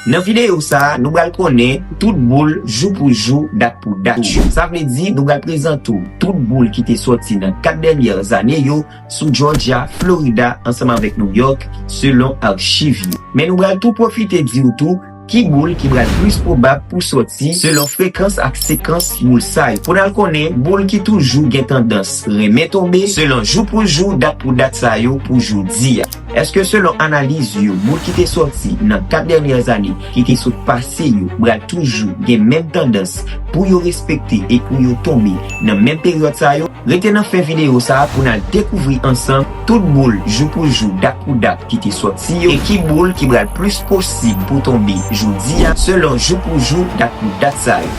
Nan videyo sa a, nou pral konnen tout boul jou pou jou, dat pou dat yo. Sa vle di nou pral prezante w tout boul ki te sòti nan 4 dènyè zane yo sou Jòjya, Florida ansanm avèk Nouyòk selon achiv yo. Men nou pral tou pwofite di w tou ki boul ki pral plis pwobab pou sòti selon frekans ak sekans boul sa yo. Pou n al konnen boul ki toujou gen tandans renmen tonbe selon jou pou jou, dat pou dat sa yo pou jodi a. Eske selon analiz yo moun ki te sòti nan 4 dènyè ane ki te sot pase yo pral toujou gen menm tandans pou yo respekte e pou yo tonbe nan menm peryòd sa yo? Rete nan fen videyo sa pou n al dekouvri ansanm tout boul jou pou jou dat pou dat ki te sòti yo e ki boul ki pral plis posib pou tonbe jodi a selon jou pou jou dat pou dat sa yo.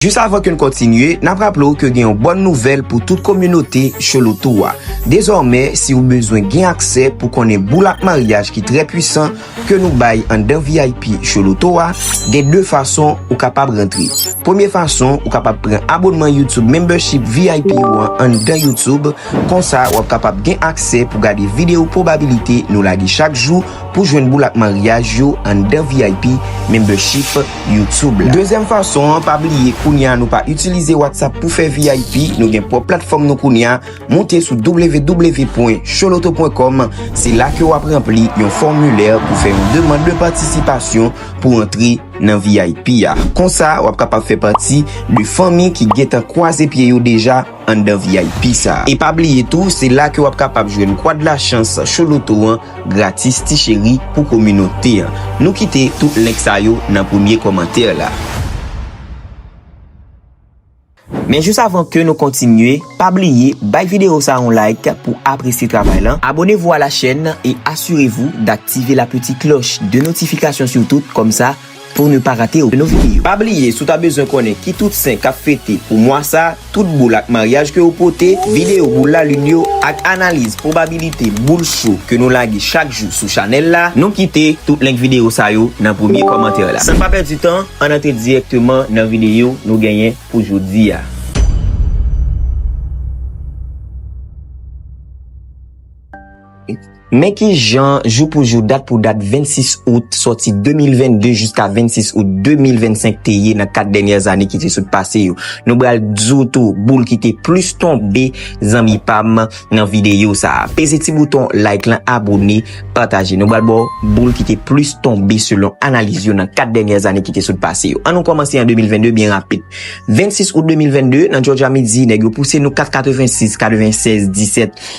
Jis avan ke n kontinye, n ap raple w ke gen yon bòn nouvèl pou tout kominote Cholotou a. Dezòmè, si ou bezwen gen aksè pou konnen boul ak maryaj ki trè pwisan ke nou bay anndan vip Choloto a, gen 2 fason ou kapab rantre. Premye fason, ou kapab pran abonnman YouTube Membership vip ou an anndan YouTube, konsa w ap kapab gen aksè pou gade video pwobabilite nou lage chak jou pou jwenn boul ak maryaj yo anndan vip Membership. YouTube la. Dezyèm fason an, pa bliye kounye a nou pa itilize WhatsApp pou fè vip, nou gen pwòp platfòm nou kounye a, moute sou www.choloto.com, se la ke wap ranpli yon fòmilè pou fè yon demand de patisipasyon pou antre nan vip a. Konsa wap kapab fè pati de fanmi ki gentan kwaze pye yo deja anndan vip sa. E pa bliye tou, se la ke wap kapab jwenn Kwad Lachans Choloto an. Gratis ti cheri pou kominote an. Nou kite tout link sa yo nan premye kòmantè la. Men jis avan ke nou kontinye, pa bliye bay video sa yon like pou apresye travay lan, abonnez-vous à la chaîne et assurez-vous d'activer la petite cloche de notification surtout, kòmsa. Pou ne pa rate okenn video. Pa bliye si w ta bezwen konnen ki tout sen kap fete pou mwa sa, tout boul ak maryaj ke yo pote, video boul lalin yo ak analiz pwobabilite boul cho ke nou lage chak jou sou chanèl la, nou kite tout link video sa yo nan premye kòmantè la. San pa pèdi tan, ann antre dirèkteman nan video nou genyen pou jodi a. Men ki jan jou pou jou, dat pou dat 26 out sòti 2022 jiska 26 out 2025 te ye nan 4 dènyè zane ki te sot pase yo. Nou bral di w tou boul ki te plis tonbe zanmi pa m nan videyo sa a. Peze ti bouton like lan, abone, pataje. Nou bral ba w boul ki te plis tonbe selon analiz yo nan 4 dènyè zane ki te sot pase yo. An nou kòmanse an 2022 byen rapid. 26 out 2022, nan Jòjya midi nèg yo pouse nou 4 86, 96, 17,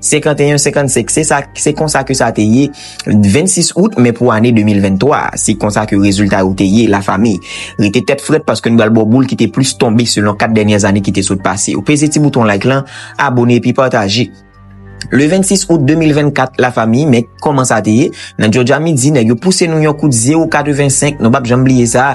51 55 se sa se konsa ke sa te ye 26 out men pou ane 2023 a se konsa ke rezilta yo te ye la fami rete tèt frèt paske nou bal bo boul ki te plis tonbe selon 4 dènyè zane ki te sot pase yo peze ti bouton like lan abone epi pataje. Le 26 out 2024 la fami men koman sa te ye nan jodja midi nèg yo pouse nou yon kout 0 85 nou pap janm bliye sa.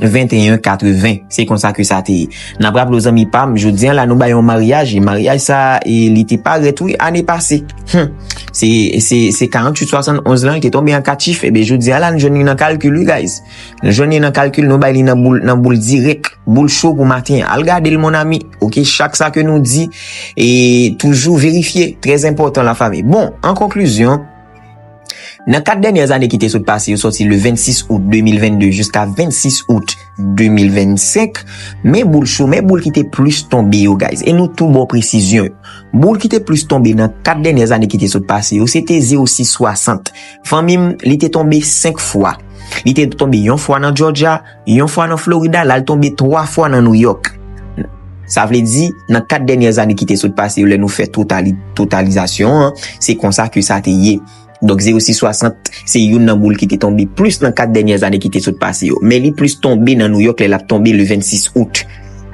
21 80 se konsa ke sa te ye nap raple w zanmi pam jodi an la nou bay yon maryaj e maryaj sa e li te paret wi ane pase hum se se se 48 71 lan li te tonbe an 4 chif e be jodi an la nou jwenn li nan kalkil wi guys nou jwenn li nan kalkil nou bay li nan boul nan boul direk boul cho pou maten an al gade l mon ami ok chak sa ke nou di e toujou verifye trèzenpòtan la fami bon an konklizyon Nan 4 dènyè zane ki te sot pase yo sòti le 26 out 2022 jiska 26 out 2025, men boul cho, men boul ki te plis tonbe yo guys, e nou tou ba w presizyon yo. Boul ki te plis tonbe nan 4 dènyè zane ki te sot pase yo se te 0660. Fanmi m, li te tonbe 5 fwa. Li te tonbe yon fwa nan Georgia, Yon fwa nan Florida, l al tonbe twa fwa nan Nouyòk. Sa vle di, nan kat dènyè zane ki te sot pase yo lè nou fè totalizasyon an, se konsa ke sa te ye. Donk 0660, se youn nan boul ki te tonbe plis nan kat dènyè zane ki te sot pase yo. Men li plis tonbe nan Nouyòk lè l ap tonbe le 26 out.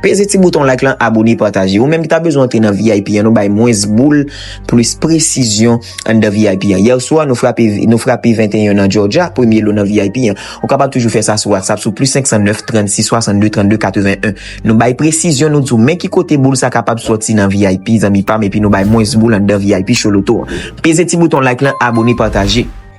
Peze ti bouton like lan abone pataje. Ou menm ki ta bezwen antre nan vip an nou bay mwens boul plis presizyon anndan vip an. Yèswa nou frape nou frape 21 nan Georgia premye lo nan vip an. Ou kapab toujou fè sa sou whatsapp sou plis 509 36 62 32 81. Nou bay presizyon nou di w men ki kote boul sa kapab soti nan vip zanmi pam epi nou bay mwens boul anndan vip Choloto an. Peze ti bouton like lan abone pataje.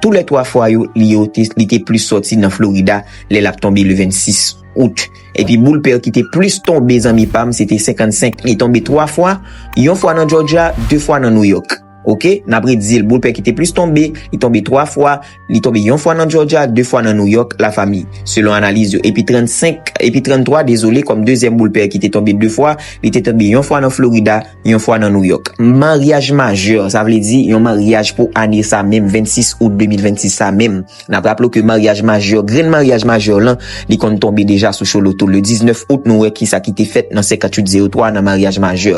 Tou lè twa fwa yo, li yo, li te plis sòti nan Florida lè l ap tonbe le 26 out. Epi boul pè ki te plis tonbe zanmi pa m se te 55. Li tonbe twa fwa, yon fwa nan Jòjya, de fwa nan Nouyòk. Oke, n ap redi l, boul pè ki te plis tonbe, li tonbe twa fwa, li tonbe yon fwa nan Jòjya, de fwa nan Nouyòk, la fami, selon analiz yo. Epi 35, epi 33, dezole, kòm dezyèm boul pè ki te tonbe de fwa, li te tonbe yon fwa nan Florida, yon fwa nan Nouyòk. Maryaj majè, sa vle di yon maryaj pou ane sa menm 26 out 2026 sa menm. N ap raple w ke maryaj majè, grenn maryaj majè lan, li konn tonbe deja sou Choloto. Le 19 out nou wè ki sa ki te fèt nan 58 03 nan maryaj majè.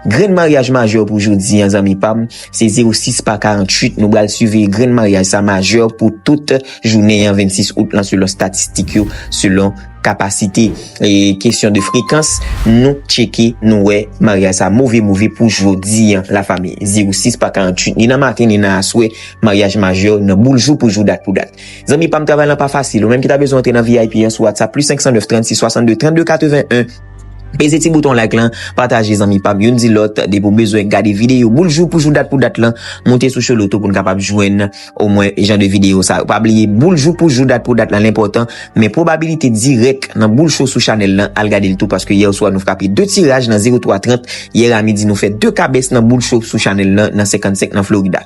Grenn maryaj majè pou jodi an zanmi pa m, se 06 pa 48 nou bal siveye grenn maryaj sa majè pou tout jounen an 26 out lan selon statistik yo, selon. kapasite e kesyon de frekans nou tcheke nou wè maryaj sa move move pou jodi an la fami 06 pa 48 ni nan maten ni nan aswè maryaj majè nan boul jou pou jou dat pou dat zanmi pam travay lan pa fasil ou menm ki ta bezwen antre nan vip an sou whatsapp plus 509 36 62 32 81 peze ti bouton like lan pataje zanmi pam youn di lòt depi ou bezwen gade videyo boul jou pou jou dat pou dat lan moute sou choloto poun kapab jwenn. o mwen jan de video sa yo. Pa bliye boul jou pou jou dat pou dat lan lenpotan men pwobabilite dirèk nan boul cho sou chanèl lan al gadel tou paske yè oswa nou frape 2 tiraj nan 0 3 30 yè a midi nou fè 2 kabès nan boul cho sou chanèl lan nan 55 nan Florida.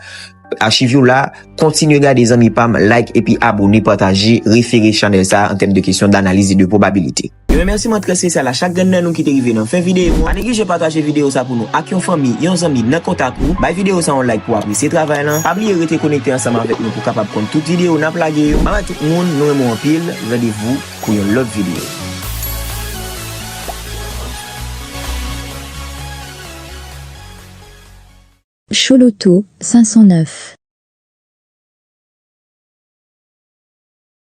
Achiv yo la, kontinye gade zanmi pam like epi abone pataje refere chanèl sa an tèm de kesyon danaliz e de pwobabilite. Yon remèsiman trè spesyal a chak grenn nan nou ki te rive nan fen videyo an. Pa neglije pataje videyo sa pou nou ak yon fanmi, yon zanmi nan kontak ou. Bay videyo sa yon like pou w apresye travay lan. Pa bliye rete konekte ansanm avèk nou pou w kapab konn tout videyo n ap lage yo. Bye bye tout moun, nou renmen w anpil. Randevou pou yon lòt videyo. Chouloutou 509.